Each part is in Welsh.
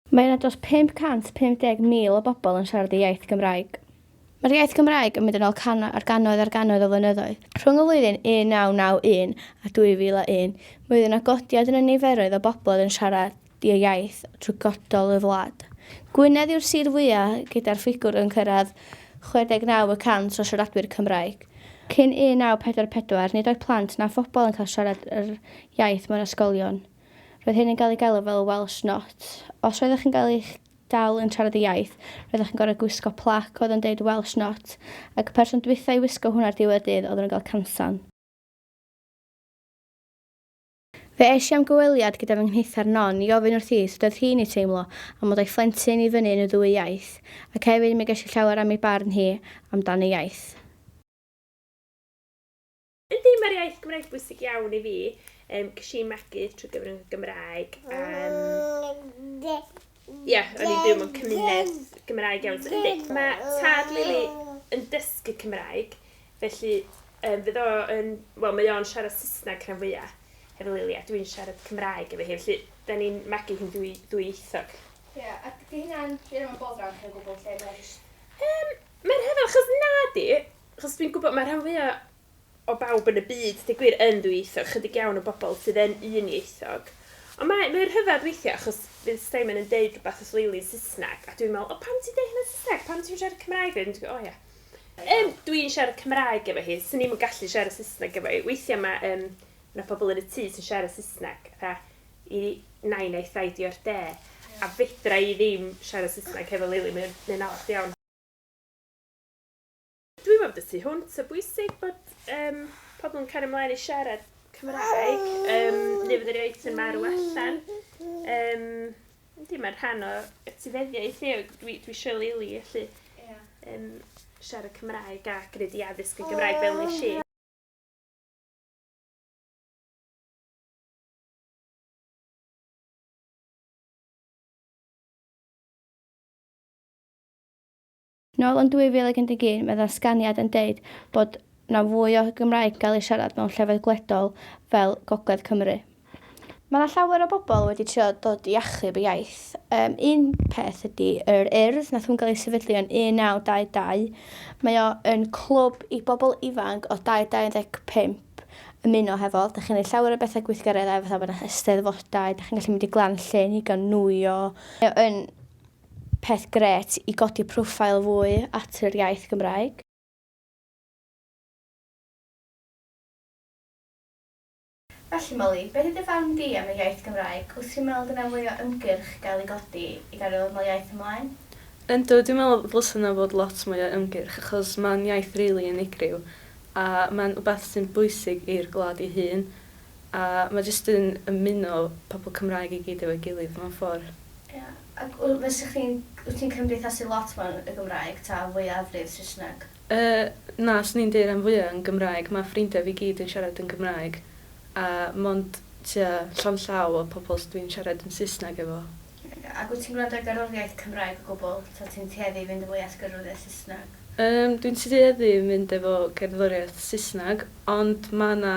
Mae yna dros 550,000 o bobl yn siarad y iaith Gymraeg. Mae'r iaith Gymraeg yn mynd yn ôl cannoedd ar gannoedd ar gannoedd o flynyddoedd. Rhwng y flwyddyn 1991 a 2001, mi oedd yna godiad yn y niferoedd o bobl oedd yn siarad. ddiaith trwy godol y wlad. Gwynedd yw'r sir fwyaf gyda'r ffigwr yn cyrraedd 69 y cant o siaradwyr Cymraeg. Cyn 1944, nid oedd plant na phobl yn cael siarad yr iaith mewn ysgolion. Roedd hyn yn cael ei galw fel Welsh Not. Os roeddech chi'n cael eich dal yn siarad y iaith, roeddech chi'n gorfod gwisgo plac oedd yn deud Welsh Not, ac y person dwytha i wisgo hwn ar ddiwedd y dydd oedden nhw'n cael cansan. Fe es i am gyfweliad gyda fy nghnithar Non i ofyn wrthi sut oedd hi'n ei teimlo am fod â'i phlentyn i fyny yn y ddwy iaith, ac hefyd mi ges i llawer am ei barn hi am dan y iaith. Yndi, mae'r iaith Gymraeg bwysig iawn i fi. Ges i magu trwy gyfrwng y Gymraeg. Ie, o'n i'n byw mewn cymuned Gymraeg iawn. So, yndi, mae tad Lili yn dysgu Cymraeg, felly um, fydd o yn... Wel, mae o'n siarad Saesneg rhan fwyaf hefo Lili, a dwi'n siarad Cymraeg efo hi, felly da ni'n magu hi'n dwy, ddwyieithog. Ie, yeah, ac di hynna'n rhywun o'n bod rhan chi'n gwybod lle mae'n just... Um, mae'n rhyfedd, achos na di, achos dwi'n gwybod mae rhan fwyaf o bawb yn y byd, deu gwir, yn ddwyieithog, chydig iawn o bobl sydd yn unieithog. Ond mae, mae'n rhyfedd weithiau achos fydd Simon yn deud rhywbeth os leili yn Saesneg a dwi'n meddwl, o pam ti'n deud hynna yn Saesneg, pam ti'n siarad Cymraeg fe? Dwi'n o ia. Um, dwi'n siarad Cymraeg efo hi, sy'n ni'n yn gallu siarad Saesneg efo hi. Weithiau mae, um, yna pobl yn y tŷ sy'n siarad Saesneg, a i nain a'i thaid i o'r de, a fedra i ddim siarad Saesneg hefo Lili, mae'n, mae'n anodd iawn. Dwi'n meddwl bod y tu hwnt o bwysig bod um, pobl yn cario ymlaen i siarad Cymraeg. Um, neu fod yr eitem ar y allan. Um, Yndi, mae'n rhan o etifeddiaeth ni, dwi, dwi eisiau leili, felly yeah. um, siarad Cymraeg a gwneud i addysg yn Gymraeg fel nes i. Nôl yn 2011 mae ddatganiad yn deud bod 'na fwy o Gymraeg gael ei siarad mewn llefydd gwledol fel Gogledd Cymru. Mae 'na llawer o bobl wedi trio dod i achub y iaith. Yym, un peth ydi yr Urdd, nath hwn gael ei sefydlu yn 1922. Mae o yn clwb i bobl ifanc o 2 i 25 ymuno hefo. Dach chi'n neud llawer o bethe gweithgareddau fatha bod 'na Eisteddfodau, dach chi'n gallu mynd i Glan Llŷn i gael nwyo. Mae o yn Peth grêt i godi profile fwy at yr iaith Gymraeg. Felly Molly, beth yw dy farn di am y iaith Gymraeg? Wyt ti'n meddwl dyna fwy o ymgyrch gael ei godi i gario ddod nol iaith ymlaen? Yndw, dwi'n meddwl ddylsa yna fod lot mwy o ymgyrch achos mae'n iaith rili unigryw a mae'n wbath sy'n bwysig i'r gwlad ei hun a mae jyst yn ymuno pobl Cymraeg i gyd efo'i gilydd mewn ffordd. Ie. Ac w- fysa chdi'n, wyt ti'n cymdeithasu lot mewn y Gymraeg ta fwyafrif Saesneg? Yy, na, 'swn i'n deu' ran fwya' yn Gymraeg, ma' ffrindia fi gyd yn siarad yn Gymraeg, a mond tua llond llaw o pobol s- dwi'n siarad yn Saesneg efo. Oce, ac wyt ti'n gwrando ar gerddoriaeth Cymraeg o gwbwl, ta ti'n tueddu i fynd yn fwy at gerddoriaeth Saesneg? Yym, dwi'n tueddu i mynd efo cerddoriaeth Saesneg, ond ma' 'na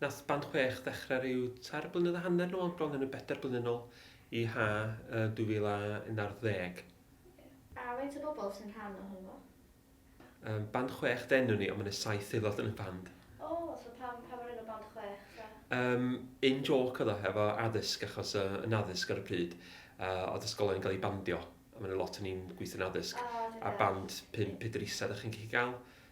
Nath band chwech ddechre ryw tair blynedd a hanner nôl, bron yn y bedair blynedd nôl i ha' yy 2011. Oce. A faint o bobl sy'n rhan o hwnnw? Yym band chwech de nwn ni ond ma' 'ne saith aelod yn y band. O so pam pam yr enw band chwech ta? Yym in joke o'dd o hefo addysg achos yy yn addysg ar y pryd yy o'dd ysgolion yn ga'l eu bandio a ma' 'ne lot o ni'n gwithio'n addysg. O dwi'n dallt. A band pump pedr isa 'dach chi'n gallu ga'l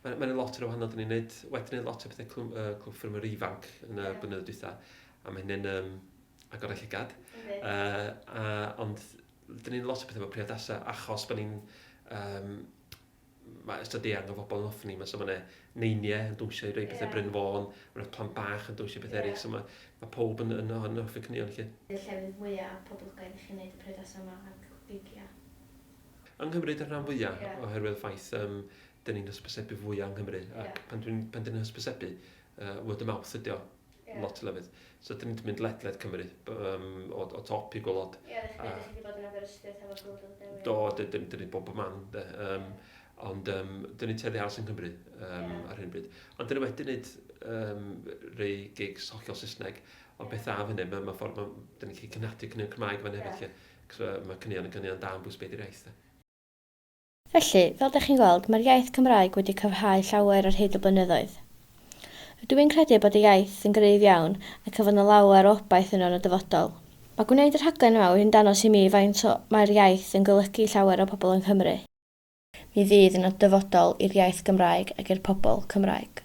Mae'n ma lot yn y wahanol, dyn ni'n neud, wedi gwneud lot o pethau clwm, uh, clwb ffyrmwyr ifanc yn y yeah. bynyddoedd dwytha, a mae hynny'n um, agor eich llygad. Okay. Uh, a, ond dyn ni'n lot o pethau efo priodasau, achos bod ni'n um, mae ystod eang o fobl yn ofni, mae so mae neiniau yn dwysio i roi pethau yeah. Bryn Fôn, mae'n plant bach yn dwysio pethau yeah. eraill, so mae, mae pob yn, yn, yn, yn hoffi cynnion chi. Y llefydd mwyaf poblogaidd i chi'n neud y priodasau yma a'r gigia? Yng Nghymru dy'r rhan fwya'... Ie. ...oherwydd y ffaith yym 'dyn ni'n hysbysebu fwya' yng Nghymru ac... Ie. ...pan dwi'n pan 'dyn ni'n hysbysebu yy word of mouth ydi o... Ie. ...lot o lefydd. So 'dyn ni'n mynd ledled Cymru b- yym o o top i gwilod. Ie dych chi dych chi 'di bod yn Aberystwyth hefo Glwyd Lwyd Dewi? Do d- d- 'dyn ni bob bob man 'de yym ond yym 'dyn ni'n tueddu aros yn Nghymru yym... Ie. ...ar hyn o bryd. Ond 'dyn ni wedi neud yym rei gigs hollol Saesneg ond beth dda am hynny ma' ma' ffor ma' 'dyn ni'n gallu cynaeafu cyn- Cymraeg fan hyn felly... Ie. Achos mae caneuon yn caneuon da am bwys be 'di'r iaith de? Felly, fel dach chi'n gweld, mae'r iaith Cymraeg wedi cryfhau llawer ar hyd y blynyddoedd. Rydw i'n credu bod y iaith yn gryf iawn ac y fydd 'na lawer o obaith yno yn y dyfodol. Mae gwneud y rhaglen yma wedi'n dangos i mi faint o mae'r iaith yn golygu i llawer o bobl yng Nghymru. Mi fydd yna dyfodol i'r iaith Gymraeg ac i'r pobl Cymraeg.